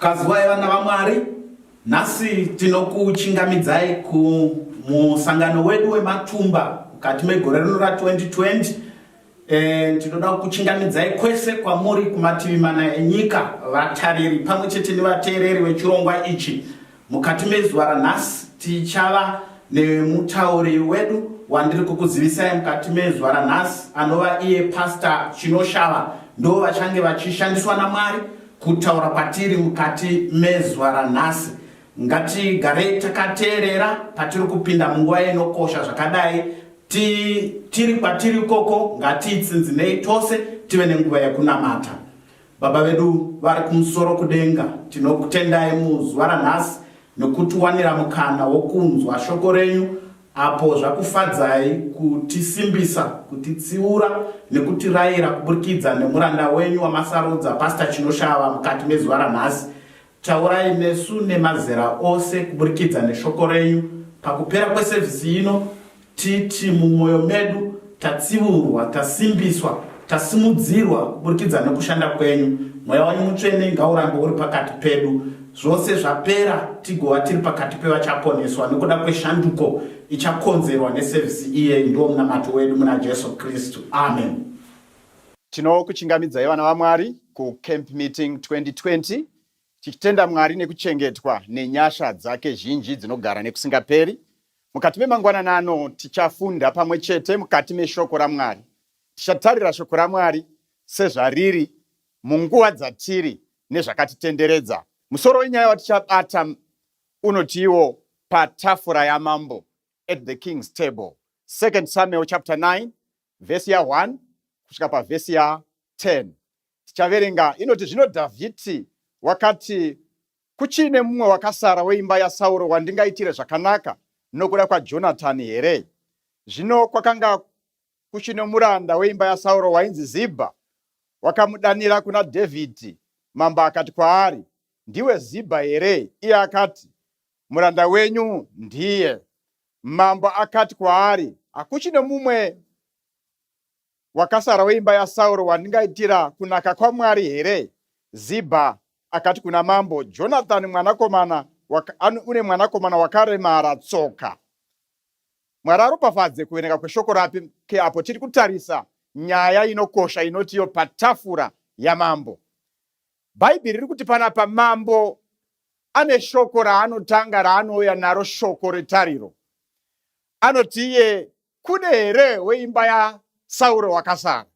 Kazuwai vana vaMwari, nhasi tinokuchingamidzai kumusangano wedu wematumba mukati megore rino ra 2020 eh, tinoda kukuchingamidzai kwese kwamuri kumativi mana enyika vatariri pamwe chete nevateereri vechirongwa ichi Mukati mezuva ranhasi tichava nemutauri wedu wandiri kukuzivisai mukati mezuva ranhasi anova iye Pastor Chinoshava ndo vachange vachishandiswa naMwari kutaura kwatiri mukati mezuva ranhasi ngatigarei takateerera patiri kupinda munguva inokosha zvakadai tiri kwatiri ikoko ngatiitsinzinei tose tive nenguva yekunamata Baba vedu vari kumusoro kudenga, tinokutendai muzuva ranhasi nokutiwanira mukana wokunzwa shoko renyu apo zvakufadzai kutisimbisa, kutitsiura nekutirayira kuburikidza nemuranda wenyu wamasarudza Pastor Chinoshava mukati mezuva ranhasi. Taurai nesu nemazera ose kuburikidza neshoko renyu pakupera kwesevhisi ino, titi mumwoyo medu tatsiurwa, tasimbiswa, tasimudzirwa kuburikidza nekushanda kwenyu. Mweya wenyu mutsvene ngaurambe uri pakati pedu, zvose zvapera tigova tiri pakati pevachaponeswa nekuda kweshanduko ichakonzerwa nesevhisi iyeyi. Ndiwo munamato wedu muna Jesu Kristu, amen. Tinokuchingamidzai vana vaMwari kuCamp Meeting 2020 tichitenda Mwari nekuchengetwa nenyasha dzake zhinji dzinogara nekusingaperi. Mukati memangwanani ano tichafunda pamwe chete mukati meshoko raMwari. Tichatarira shoko raMwari sezvariri munguva dzatiri nezvakatitenderedza. Musoro wenyaya watichabata unotiwo patafura yamambo, at the king's table. 2 Samuel chapter 9 vhesi ya 1 kusvika pavhesi ya 10 tichaverenga inoti zvino dhavhidhi wakati kuchiine mumwe wakasara weimba yasauro wandingaitire zvakanaka nokuda kwajonatani here zvino kwakanga kuchine muranda weimba yasauro wainzi zibha wakamudanira kuna dhavhidhi mambo akati kwaari ndiwe zibha here iye akati muranda wenyu ndiye Mambo akati kwaari, Hakuchine mumwe wakasara weimba yaSauro wandingaitira kunaka kwaMwari here? Zibha akati kuna mambo, Jonathani mwanakomana une mwanakomana wakaremara tsoka. Mwari aropafadze kuverenga kweshoko rapi ke apo tiri kutarisa nyaya inokosha inotiyo patafura yamambo. Bhaibheri riri kuti panapa mambo ane shoko raanotanga raanouya naro shoko retariro. Anoti iye kune here weimba yaSauro wakasara?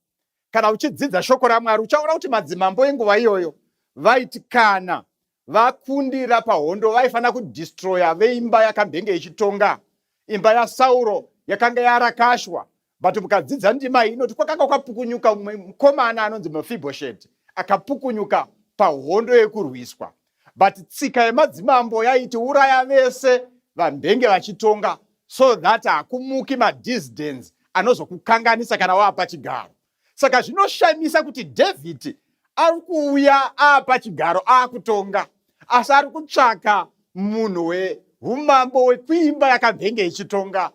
Kana uchidzidza shoko raMwari uchaona kuti madzimambo enguva iyoyo vaiti kana vakundira pahondo vaifanira kudhistroya veimba yakambenge ichitonga. Imba yaSauro yakanga yarakashwa but mukadzidza ndima iyi inoti kwakanga kwapukunyuka umwe mukomana anonzi mefibhosheti akapukunyuka pahondo yekurwiswa but tsika yemadzimambo yaiti uraya vese vambenge vachitonga so that hakumuki madisdens anozokukanganisa kana wapa chigaro saka zvinoshamisa kuti dhavhidhi ari kuuya apa chigaro akutonga asi ari kutsvaka munhu weumambo wekuimba yakavenge ichitonga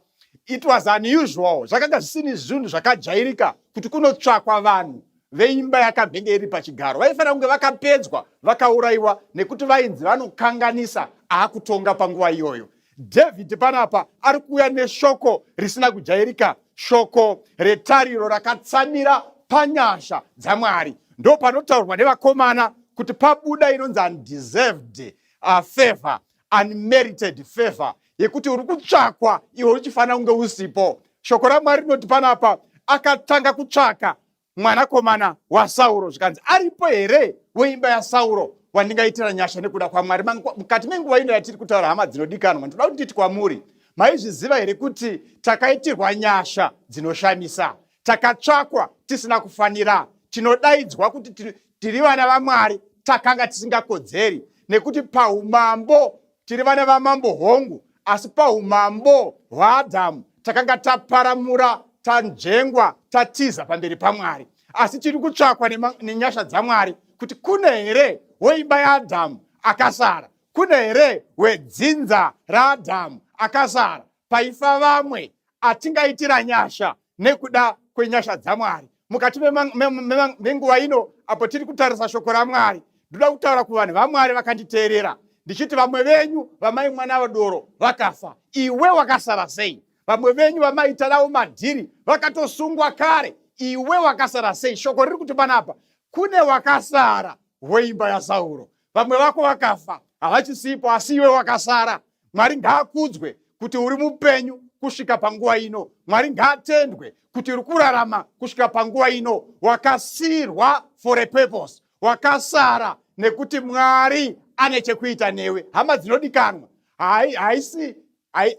it was unusual zvakanga zvisini zvinhu zvakajairika kuti kunotsvakwa vanhu veimba yakavenge iri pachigaro vaifanira kunge vakapedzwa vakaurayiwa nekuti vainzi vanokanganisa akutonga panguva iyoyo David panapa ari kuuya neshoko risina kujairika, shoko retariro rakatsamira panyasha dzaMwari. Ndo panotaurwa nevakomana kuti pabuda inonzi undeserved uh, favor, unmerited favor yekuti uri kutsvakwa iwe uchifanira kunge usipo. Shoko raMwari rinoti panapa akatanga kutsvaka mwanakomana wasauro zvikanzi aripo here weimba yasauro wandingaitira nyasha nekuda kwamwari mukati menguva ino yatiri kutaura hama dzinodikanwa ndoda kuti nditi kwamuri maizviziva here kuti takaitirwa nyasha dzinoshamisa takatsvakwa tisina kufanira tinodaidzwa kuti tiri vana vamwari takanga tisingakodzeri nekuti paumambo Tiri vana vamambo hongu, asi paumambo hwaAdhamu takanga taparamura, tanzvengwa, tatiza pamberi paMwari. Asi tiri kutsvakwa nenyasha dzaMwari kuti kune here woimba yaAdhamu akasara, kune here wedzinza raAdhamu akasara, paifa vamwe atingaitira nyasha nekuda kwenyasha dzaMwari mukati menguva ino apo tiri kutarisa shoko raMwari ndoda kutaura kuvanhu vaMwari vakanditeerera ndichiti vamwe venyu vamai mwana vadoro vakafa iwe wakasara sei vamwe venyu vamaita navo madhiri vakatosungwa kare iwe wakasara sei shoko riri kuti panapa kune wakasara weimba yasauro vamwe vako vakafa havachisipo asi iwe wakasara mwari ngaakudzwe kuti uri mupenyu kusvika panguva ino mwari ngaatendwe kuti uri kurarama kusvika panguva ino wakasirwa for a purpose wakasara nekuti mwari ane chekuita newe hama dzinodikanwa haisi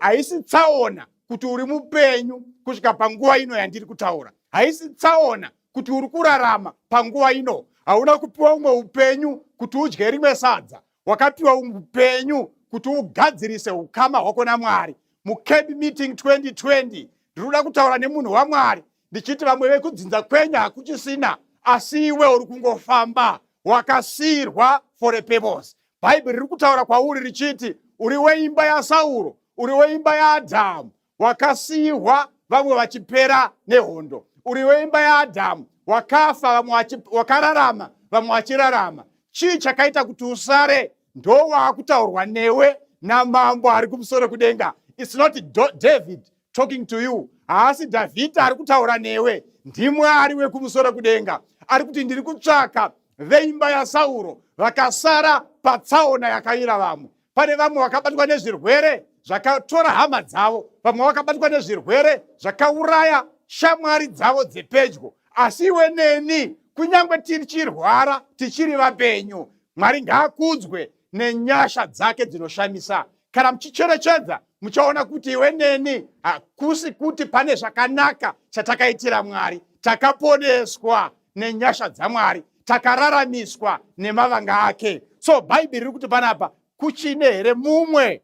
haisi tsaona kuti uri mupenyu kusvika panguva ino yandiri kutaura haisi tsaona kuti uri kurarama panguva ino hauna kupiwa umwe upenyu kuti udye rimwe sadza wakapiwa upenyu kuti ugadzirise ukama hwako namwari mucamp meeting 2020 ndinoda kutaura nemunhu wamwari ndichiti vamwe vekudzinza kwenyu hakuchisina asi iwe uri kungofamba wakasiyirwa for a purpose bhaibheri riri kutaura kwauri richiti uri weimba yasauro uri weimba yaadhamu wakasiyirwa vamwe vachipera nehondo uri weimba yaadhamu wakafa vamwe wakararama vamwe vachirarama chii chakaita kuti usare ndowaakutaurwa newe namambo ari kumusoro kudenga its not david talking to you haasi dhavhidha ari kutaura newe ndimwari wekumusoro kudenga ari kuti ndiri kutsvaka veimba yasauro vakasara patsaona yakayira vamwe pane vamwe vakabatwa nezvirwere zvakatora hama dzavo vamwe vakabatwa nezvirwere zvakauraya shamwari dzavo dzepedyo asi iwe neni kunyange tichirwara tichiri vapenyu mwari ngaakudzwe nenyasha dzake dzinoshamisa kana muchicherechedza muchaona kuti iwe neni hakusi kuti pane zvakanaka chatakaitira mwari takaponeswa nenyasha dzamwari takararamiswa nemavanga ake so bhaibheri riri kuti panapa kuchine here mumwe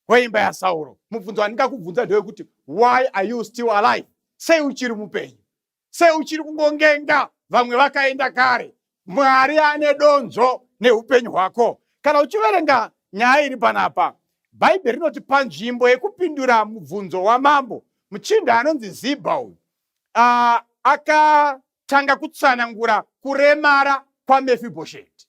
weimba yasauro mubvunzo wandingakubvunza ndewekuti why are you still alive sei uchiri mupenyu sei uchiri kungongenga vamwe vakaenda kare mwari ane donzvo neupenyu hwako kana uchiverenga nyaya iri panapa bhaibheri rinoti panzvimbo yekupindura mubvunzo wamambo muchinda anonzi zibha uyu uh, akatanga kutsanangura kuremara kwaMefibhosheti.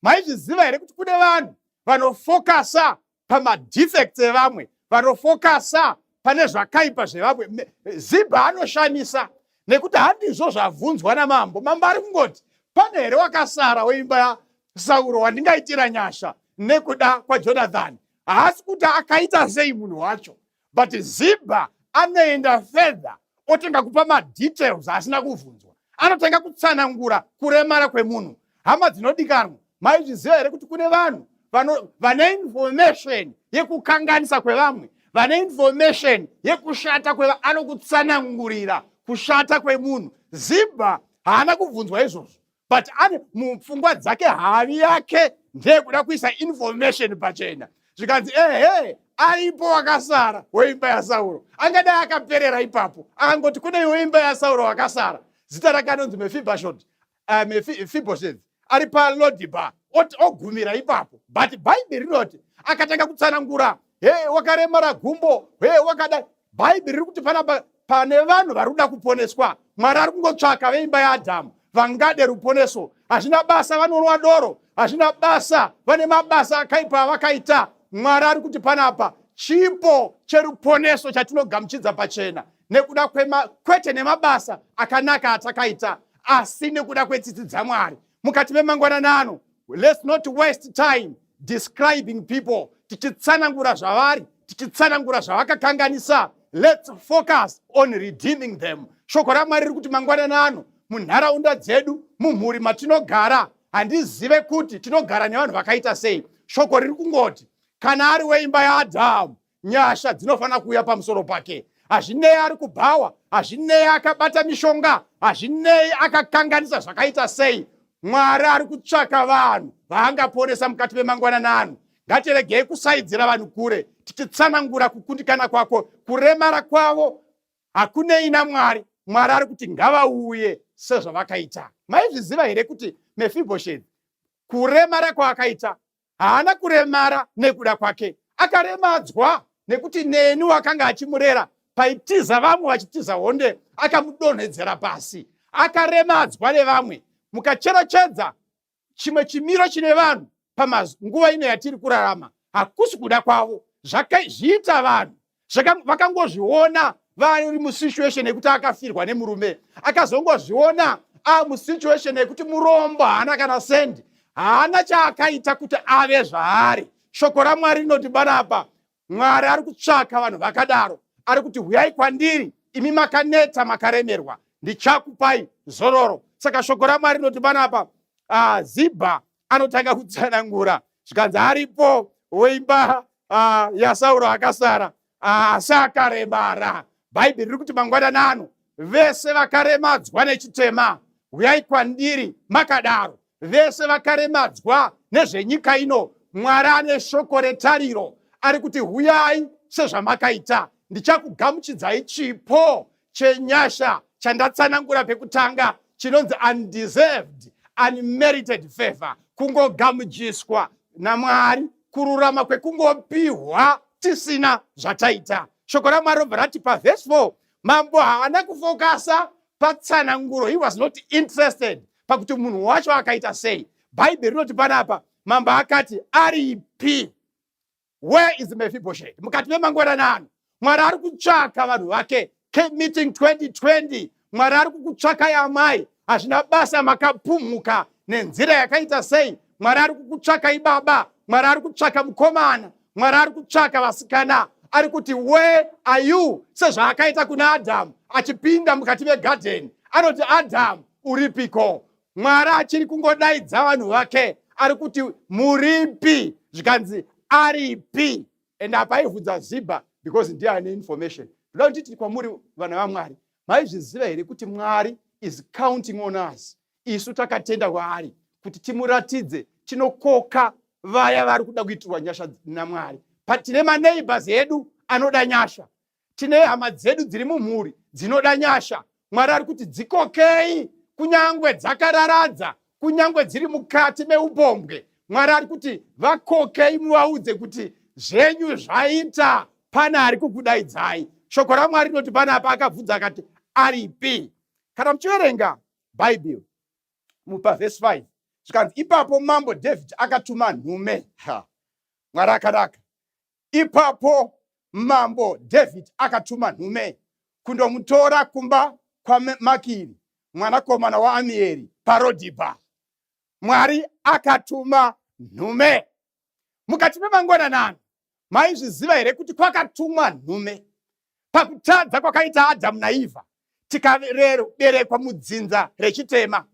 Maizviziva here kuti kune vanhu vanofokasa pamadefects evamwe, vanofokasa pane zvakaipa zvevamwe. Zibha anoshamisa nekuti handizvo zvabvunzwa namambo. Mambo ari kungoti pane here wakasara weimba yaSauro wandingaitira nyasha nekuda kwaJonathani? Haasi kuti akaita sei munhu wacho, but ziba anoenda fedha otanga kupa madetails asina kuvhunzwa anotanga kutsanangura kuremara kwemunhu hama dzinodikanwa maizviziva here kuti kune vanhu vane information yekukanganisa kwevamwe vane information yekushata kweva anokutsanangurira kushata kwemunhu zibha haana kubvunzwa izvozvo but ane mupfungwa dzake havi yake ndeyekuda kuisa information pachena zvikanzi ehe aripo wakasara weimba yasauro angadai akaperera ipapo akangoti kune iwe imba yasauro wakasara zita rake anonzi mefibashot uh, mefiboshet ari palodiba ogumira ipapo but bhaibheri rinoti akatanga kutsanangura he wakaremara gumbo he wakadai bhaibheri riri kuti panapa pane vanhu vari kuda kuponeswa mwari ari kungotsvaka veimba yaadhamu vangade ruponeso hazvina basa vanonwa doro hazvina basa vane mabasa akaipa avakaita mwari ari kuti panapa chipo cheruponeso chatinogamuchidza pachena nekuda kwema, kwete nemabasa akanaka atakaita asi nekuda kwetsitsi dzamwari mukati memangwananano Let's not waste time describing people tichitsanangura zvavari tichitsanangura zvavakakanganisa let's focus on redeeming them shoko ramwari riri kuti mangwanani ano munharaunda dzedu mumhuri matinogara handizive kuti tinogara nevanhu vakaita sei shoko riri kungoti kana ari weimba yaadhamu nyasha dzinofanira kuuya pamusoro pake hazvinei ari kubhawa hazvinei akabata mishonga hazvinei akakanganisa zvakaita sei mwari ari kutsvaka vanhu vaangaponesa mukati memangwanana ano ngatiregei kusaidzira vanhu kure tichitsanangura kukundikana kwako kuremara kwavo hakunei namwari mwari ari kuti ngavauye sezvavakaita maizviziva here kuti mefibhosheti kuremara kwaakaita haana kuremara nekuda kwake akaremadzwa nekuti neni wakanga achimurera paitiza vamwe vachitiza honde akamudonhedzera pasi akaremadzwa nevamwe mukacherechedza chimwe chimiro chine vanhu panguva ino yatiri kurarama hakusi kuda kwavo zvakazviita vanhu vakangozviona vari musituation yekuti akafirwa nemurume akazongozviona a musituation yekuti murombo haana kana sendi haana chaakaita kuti ave zvaari shoko ramwari rinoti banapa mwari ari kutsvaka vanhu vakadaro ari kuti huyai kwandiri imi makaneta makaremerwa ndichakupai zororo saka shoko ramwari rinoti banapa zibha anotanga kutsanangura zvikanzi aripo weimba uh, yasauro akasara asi ah, akaremara bhaibheri riri kuti mangwanana ano vese vakaremadzwa nechitema huyai kwandiri makadaro vese vakaremadzwa nezvenyika ino mwari ane shoko retariro ari kuti huyai sezvamakaita ndichakugamuchidzai chipo chenyasha chandatsanangura pekutanga chinonzi undeserved unmerited favor kungogamuchjiswa namwari kururama kwekungopihwa tisina zvataita shoko ramwari robva rati pavhesi 4 mambo haana kufokasa patsananguro he was not interested pakuti munhu wacho akaita sei bhaibheri rinoti panapa mambo akati aripi where is mefibhosheti mukati memangweranano mwari ari kutsvaka vanhu vake meeting 2020 mwari ari kukutsvakai amai hazvina basa makapumhuka nenzira yakaita sei mwari ari kukutsvakai baba mwari ari kutsvaka mukomana mwari ari kutsvaka vasikana ari kuti where are you sezvaakaita kuna adhamu achipinda mukati megadheni anoti adhamu uripiko Mwari achiri kungodaidza vanhu vake ari kuti muripi zvikanzi aripi and apa aivhudza ziba because ndiye ane information ndoda kuti titi kwamuri vana vamwari maizviziva here kuti mwari is counting on us isu takatenda kwaari kuti timuratidze tinokoka vaya vari kuda kuitirwa nyasha namwari but tine maneighbors edu anoda nyasha Tine hama dzedu dziri mumhuri dzinoda nyasha. Mwari ari kuti dzikokei, kunyangwe dzakararadza, kunyangwe dziri mukati meupombwe. Mwari ari kuti vakokei, muvaudze kuti zvenyu zvaita, pane ari kukudaidzai. Shoko raMwari rinoti pane apa akabvunza akati aripi. Kana muchiverenga Bhaibheri mupa vhesi 5 zvikanzi ipapo mambo David akatuma nhume. Ha, Mwari akanaka. Ipapo mambo Dhavhidhi akatuma nhume kundomutora kumba kwaMakiri mwanakomana waAmieri paRodhibha. Mwari akatuma nhume mukati memangwananani. Maizviziva here kuti kwakatumwa nhume? Pakutadza kwakaita Adhamu naEvha, tikaberekwa mudzinza rechitema.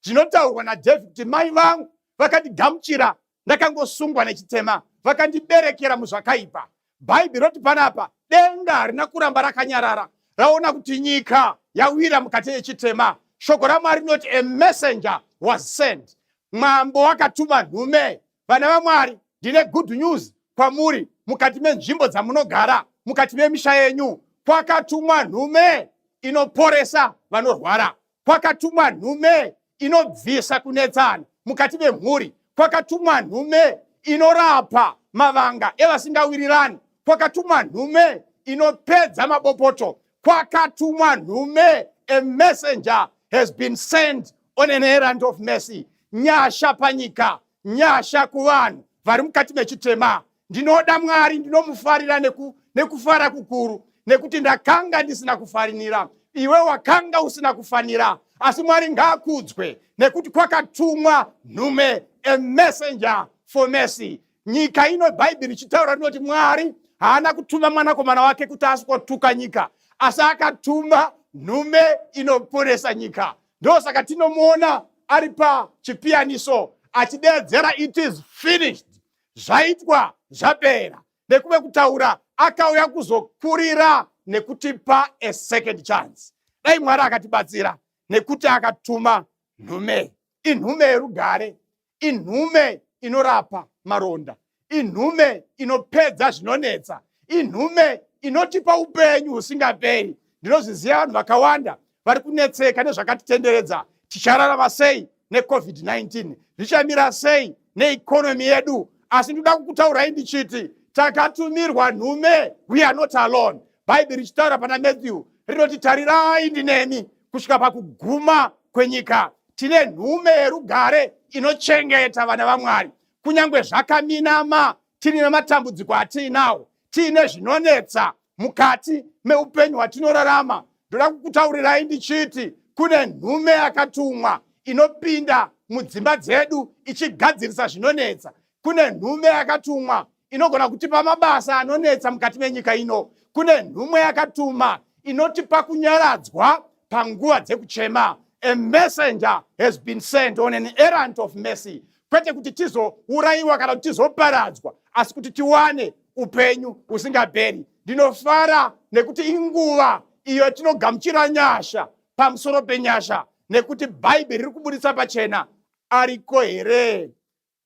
Zvinotaurwa naDavid kuti mai vangu vakandigamuchira ndakangosungwa nechitema, vakandiberekera muzvakaipa. Bhaibheri roti panapa denga harina kuramba rakanyarara, raona kuti nyika yawira mukati yechitema. Shoko raMwari rinoti a messenger was sent, mwambo wakatuma nhume Vana vaMwari, ndine good news kwamuri. Mukati menzvimbo dzamunogara, mukati memisha yenyu, kwakatumwa nhume inoporesa vanorwara. Kwakatumwa nhume inobvisa kunetsana mukati memhuri. Kwakatumwa nhume inorapa mavanga evasingawirirani. Kwakatumwa nhume inopedza mabopoto kwakatumwa nhume a messenger has been sent on an errand of mercy nyasha panyika nyasha kuvanhu vari mukati mechitema ndinoda mwari ndinomufarira neku, nekufara kukuru nekuti ndakanga ndisina kufarinira iwe wakanga usina kufanira asi mwari ngaakudzwe nekuti kwakatumwa nhume a messenger for mercy nyika ino bhaibheri richitaura rinoti mwari haana kutuma mwanakomana wake kuti asikotuka nyika asi akatuma nhume inoporesa nyika ndosaka tinomuona ari pachipiyaniso achideedzera it is finished zvaitwa zvapera nekuve kutaura akauya kuzokurira nekutipa a second chance dai mwari akatibatsira nekuti akatuma nhume inhume yerugare inhume inorapa maronda inhume inopedza zvinonetsa inhume inotipa upenyu husingaperi ndinozviziva vanhu vakawanda vari kunetseka nezvakatitenderedza tichararama sei necovid-19 zvichamira sei neikonomi yedu asi ndinoda kukutaurai ndichiti takatumirwa nhume we are not alone bhaibheri richitaura pana matthew rinoti tarirai ndinemi kusvika pakuguma kwenyika tine nhume yerugare inochengeta vana vamwari kunyange zvakaminama tiri nematambudziko atiinawo tiine zvinonetsa mukati meupenyu hwatinorarama ndoda kukutaurirai ndichiti kune nhume yakatumwa inopinda mudzimba dzedu ichigadzirisa zvinonetsa Kune nhume yakatumwa inogona kutipa mabasa anonetsa mukati menyika ino. Kune nhume yakatuma inotipa kunyaradzwa panguva dzekuchema. A messenger has been sent on an errand of mercy. Kwete kuti tizourayiwa kana kuti tizoparadzwa, asi kuti tiwane upenyu husingaperi. Ndinofara nekuti inguva iyo tinogamuchira nyasha pamusoro penyasha nekuti bhaibheri riri kuburitsa pachena ariko here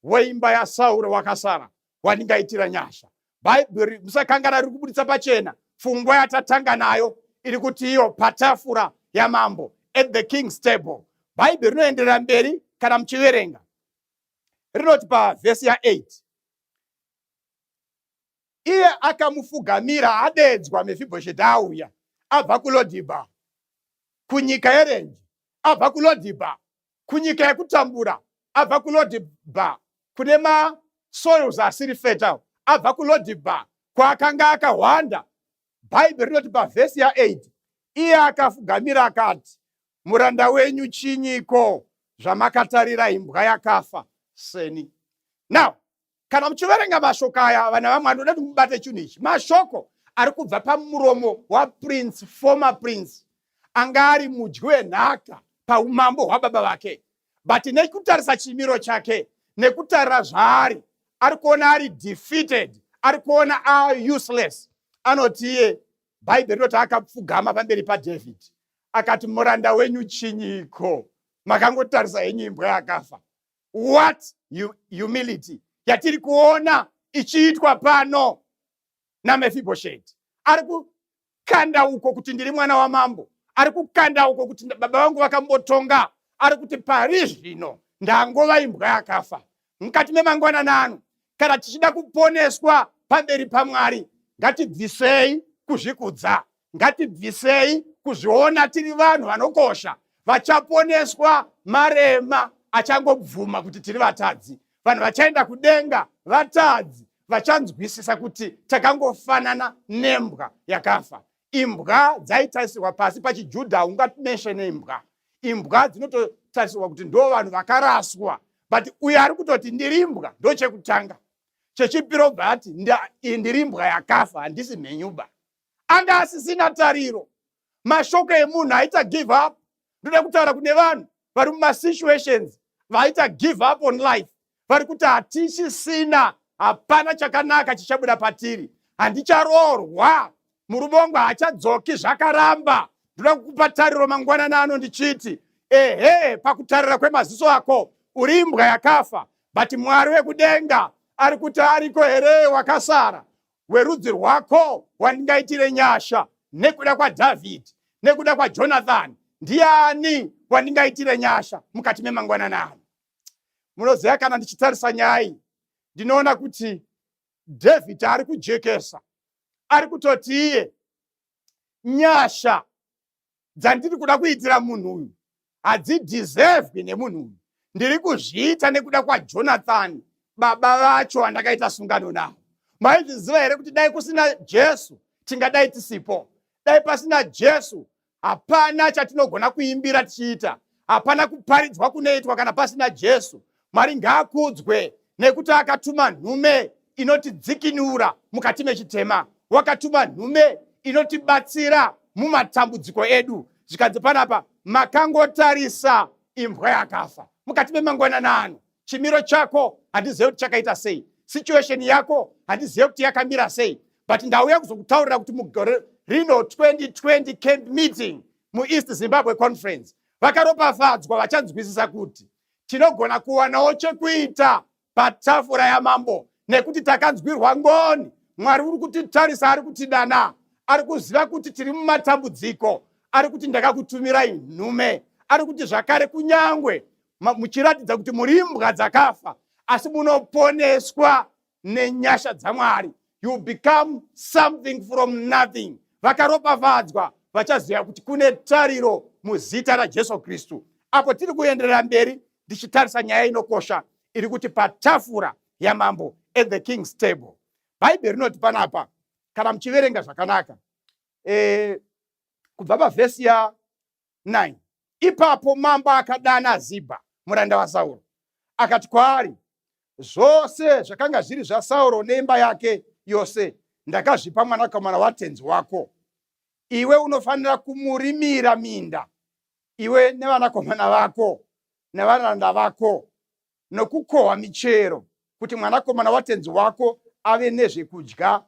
weimba yasauro wakasara wandingaitira nyasha bhaibheri musakangana riri kubuditsa pachena fungwa yatatanga nayo iri kuti iyo patafura yamambo at the king's table bhaibheri rinoenderera mberi kana muchiverenga rinoti pavhesi ya8 iye akamufugamira adedzwa mefibhosheti auya abva kulodhibha kunyika yerenji abva kulodhibha kunyika yekutambura abva kulodhibha kune masoils asiri fertile abva kulodhibha kwaakanga akahwanda bhaibheri rinoti pavhesi ya8 iye akafugamira akati muranda wenyu chinyiko zvamakatarira imbwa yakafa seni now Kana muchiverenga mashoko aya, vana vamwe anoda kuti mubate chinhu ichi. Mashoko ari kubva pamuromo waprince, former prince, anga ari mudyi wenhaka paumambo hwababa vake, but nekutarisa chimiro chake, nekutarira zvaari, ari kuona ari defeated, ari kuona ari useless. Anoti iye Bhaibheri rinoti akapfugama pamberi paDhavhidhi akati, muranda wenyu chinyiko? Makangotarisa henyu imbwa yakafa. What humility yatiri kuona ichiitwa pano naMefibhosheti. Ari kukanda uko kuti ndiri mwana wamambo, ari kukanda uko kuti baba vangu vakambotonga, ari kuti pari zvino ndangova imbwa yakafa. Mukati memangwanana ano, kana tichida kuponeswa pamberi paMwari, ngatibvisei kuzvikudza, Ngatibvisei kuzviona tiri vanhu vanokosha, vachaponeswa marema achangobvuma kuti tiri vatadzi. Vanhu vachaenda kudenga vatadzi, vachanzwisisa kuti takangofanana nembwa yakafa. Imbwa dzaitarisirwa pasi pachiJudha, haungameshene imbwa. Imbwa dzinototarisirwa kuti ndo vanhu vakaraswa, but uyo ari kutoti ndiri imbwa ndochekutanga chechipiro bva ati ndiri imbwa yakafa handisi mhenyuba anga asisina tariro mashoko emunhu aita give up ndoda kutaura kune vanhu vari mumasituations vaita give up on life vari kuti hatichisina hapana chakanaka chichabuda patiri handicharoorwa murume wangu haachadzoki zvakaramba ndoda kukupa tariro mangwanani ano ndichiti ehe pakutarira kwemaziso ako uri imbwa yakafa but mwari wekudenga ari kuti ariko here wakasara werudzi rwako wandingaitire nyasha nekuda kwadhavhidhi nekuda kwajonathani ndiani wandingaitire nyasha mukati memangwanana ano munoziva kana ndichitarisa nyaya iyi ndinoona kuti dhavhidhi ari kujekesa ari kutoti iye nyasha dzandiri kuda kuitira munhu uyu hadzidhiservwi nemunhu uyu ndiri kuzviita nekuda kwajonathani baba vacho vandakaita sungano navo maizviziva here kuti dai kusina jesu tingadai tisipo dai pasina jesu hapana chatinogona kuimbira tichiita hapana kuparidzwa kunoitwa kana pasina jesu Mwari ngaakudzwe nekuti akatuma nhume inotidzikinura mukati mechitema. Wakatuma nhume inotibatsira mumatambudziko edu. Zvikanzi panapa makangotarisa imbwa yakafa mukati memangwanana ano. Chimiro chako handizive kuti chakaita sei, situation yako handizive kuti yakamira sei, but ndauya kuzokutaurira kuti mugore rino 2020 camp meeting mueast Zimbabwe conference vakaropafadzwa vachanzwisisa kuti tinogona kuwanawo chekuita patafura yamambo nekuti takanzwirwa ngoni mwari uri kutitarisa ari kutidana ari kuziva kuti tiri mumatambudziko ari kuti ndakakutumirai nhume ari kuti zvakare kunyangwe muchiratidza kuti muri imbwa dzakafa asi munoponeswa nenyasha dzamwari you become something from nothing vakaropafadzwa vachaziva kuti kune tariro muzita rajesu kristu apo tiri kuenderera mberi ndichitarisa nyaya inokosha iri kuti patafura yamambo at the king's table bhaibheri rinoti panapa kana muchiverenga zvakanaka e, kubva pavhesi ya 9 ipapo mambo akadana zibha muranda wasauro akati kwaari zvose zvakanga zviri zvasauro neimba yake yose ndakazvipa mwanakomana watenzi wako iwe unofanira kumurimira minda iwe nevanakomana vako nevaranda vako nokukohwa michero kuti mwanakomana watenzi wako ave nezvekudya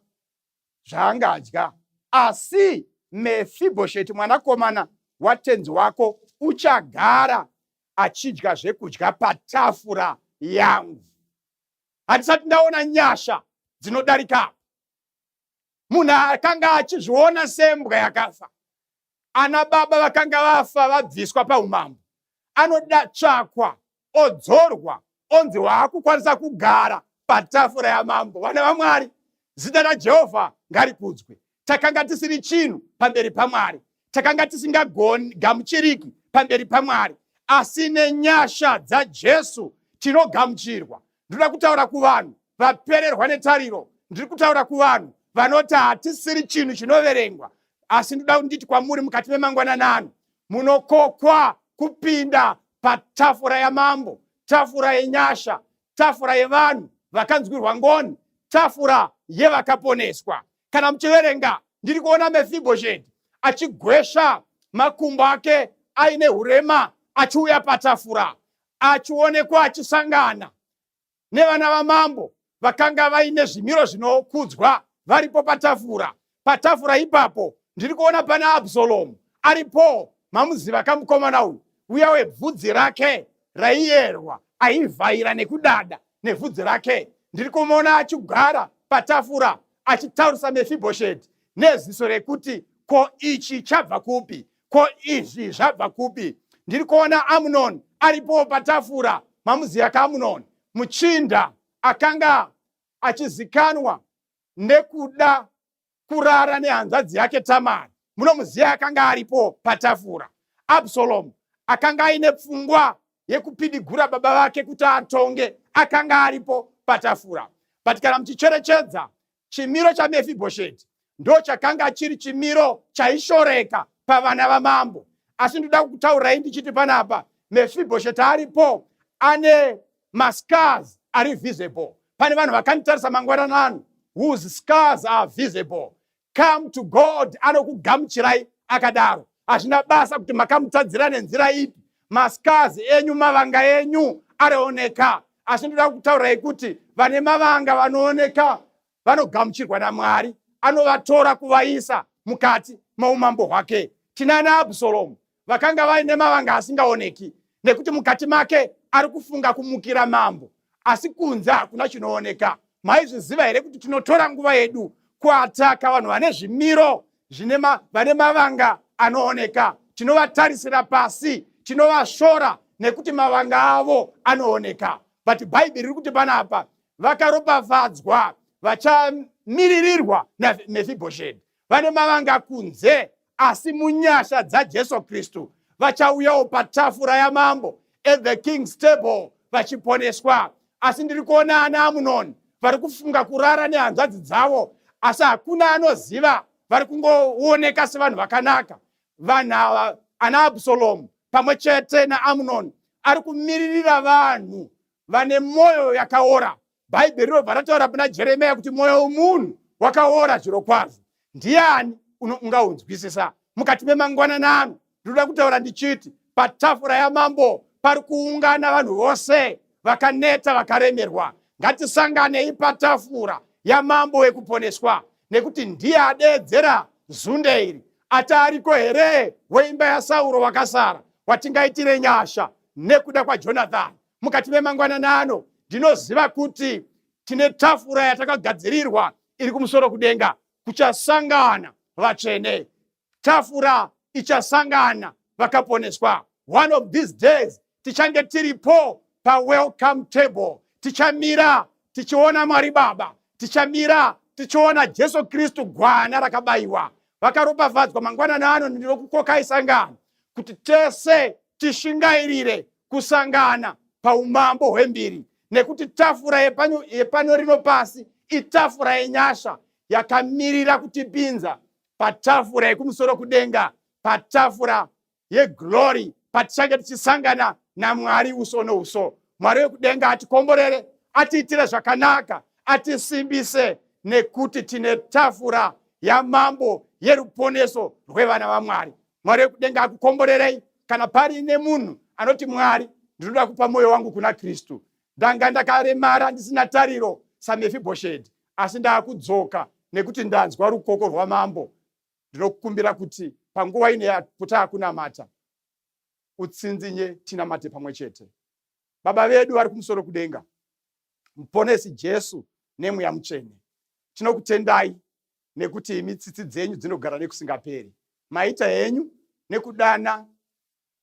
zvaangadya, asi Mefibhosheti mwanakomana watenzi wako uchagara achidya zvekudya patafura yangu. Handisati ndaona nyasha dzinodarika apa. Munhu akanga achizviona sembwa yakafa ana baba vakanga vafa vabviswa paumambo anoda tsvakwa odzorwa onzi waakukwanisa kugara patafura yamambo vana vamwari zita rajehovha ngarikudzwe takanga tisiri chinhu pamberi pamwari takanga tisingagoni gamuchiriki pamberi pamwari asi nenyasha dzajesu tinogamuchirwa ndinoda kutaura kuvanhu vapererwa netariro ndiri kutaura kuvanhu vanoti hatisiri chinhu chinoverengwa asi ndoda kunditi kwamuri mukati memangwanana ano munokokwa kupinda patafura yamambo tafura yenyasha tafura yevanhu vakanzwirwa ngoni tafura yevakaponeswa kana muchiverenga ndiri kuona mefibhosheti achigwesha makumbo ake aine urema achiuya patafura achionekwa achisangana nevana vamambo vakanga vaine zvimiro zvinokudzwa varipo patafura. Patafura ipapo ndiri kuona pana Absalomu aripo, mamuziva kamukomana uyu uya webvudzi rake raiyerwa, aivhaira nekudada nebvudzi rake. Ndiri kumuona achigara patafura achitaurisa Mefibhosheti neziso rekuti ko ichi chabva kupi? ko izvi zvabva kupi ndiri kuona amunoni aripowo patafura mamuziya kaamunoni muchinda akanga achizikanwa nekuda kurara nehanzvadzi yake tamari munomuziya akanga aripo patafura absalomu akanga aine pfungwa yekupidigura baba vake kuti atonge akanga aripo patafura but kana muchicherechedza Chimiro chaMefibhosheti ndochakanga chiri chimiro chaishoreka pavana vamambo. Asi ndoda kukutaurai ndichiti panapa Mefibhosheti aripo ane mascars ari visible. Pane vanhu vakanditarisa mangwanana ano whose scars are visible. Come to God anokugamuchirai akadaro. Hazvina basa kuti makamutadzira nenzira ipi mascars enyu mavanga enyu arioneka asi ndoda kutaurai kuti vane mavanga vanooneka vanogamuchirwa namwari anovatora kuvaisa mukati moumambo hwake tinana absalomu vakanga vaine mavanga asingaoneki nekuti mukati make ari kufunga kumukira mambo asi kunze hakuna chinooneka maizviziva here kuti tinotora nguva yedu kuataka vanhu vane zvimiro zvine ma, vane mavanga anooneka tinovatarisira pasi tinovashora nekuti mavanga avo anooneka but bhaibheri riri kuti pana apa vakaropafadzwa vachamiririrwa namefibhosheti vane mavanga kunze asi munyasha dzajesu kristu vachauyawo patafura yamambo at the king's table vachiponeswa asi ndiri kuona ana amunoni vari kufunga kurara nehanzvadzi dzavo asi hakuna anoziva vari kungooneka sevanhu vakanaka vanhu ava ana absalomu pamwe chete naamunoni ari kumiririra vanhu vane mwoyo yakaora Bhaibheri rinobva rataura kuna Jeremiya kuti mwoyo womunhu wakaora zviro kwazvo. Ndiani ungaunzwisisa? Mukati memangwanani ano ndinoda kutaura ndichiti patafura yamambo pari kuungana vanhu vose vakaneta vakaremerwa. Ngatisanganei patafura yamambo wekuponeswa nekuti ndiye adeedzera zunde iri ati ariko here weimba yasauro wakasara watingaitire nyasha nekuda kwajonathani mukati memangwanana ano ndinoziva kuti tine tafura yatakagadzirirwa iri kumusoro kudenga kuchasangana vatsvene tafura ichasangana vakaponeswa one of these days tichange tiripo pawelcome table tichamira tichiona mwari baba tichamira tichiona jesu kristu gwana rakabayiwa vakaropafadzwa mangwanana ano ndinokukokai sangano kuti tese tishingairire kusangana paumambo hwembiri nekuti tafura yepano, yepano rino pasi itafura yenyasha yakamirira kutipinza patafura yekumusoro kudenga patafura yeglory patichange tichisangana namwari uso nouso mwari wekudenga atikomborere atiitire zvakanaka atisimbise nekuti tine tafura yamambo yeruponeso rwevana vamwari mwari wekudenga akukomborerei kana pari nemunhu anoti mwari ndinoda kupa mwoyo wangu kuna kristu ndanga ndakaremara ndisina tariro samefibhoshedhi asi ndaakudzoka nekuti ndanzwa rukoko rwamambo ndinokukumbira kuti panguva ine yakuta akunamata utsinzinye tinamate pamwe chete baba vedu vari kumusoro kudenga muponesi jesu nemweya mutsvene tinokutendai nekuti imi tsitsi dzenyu dzinogara nekusingaperi. Maita henyu nekudana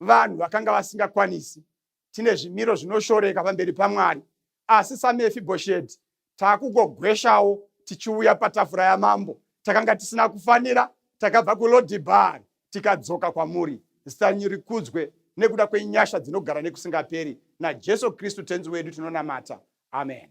vanhu vakanga vasingakwanisi. Tine zvimiro zvinoshoreka pamberi paMwari, asi saMefibhosheti takugogweshawo tichiuya patafura yamambo. Takanga tisina kufanira, takabva kuLodhibhari tikadzoka kwamuri. Zita renyu rikudzwe nekuda kwenyasha dzinogara nekusingaperi. NaJesu Kristu Tenzi wedu tinonamata. Amen.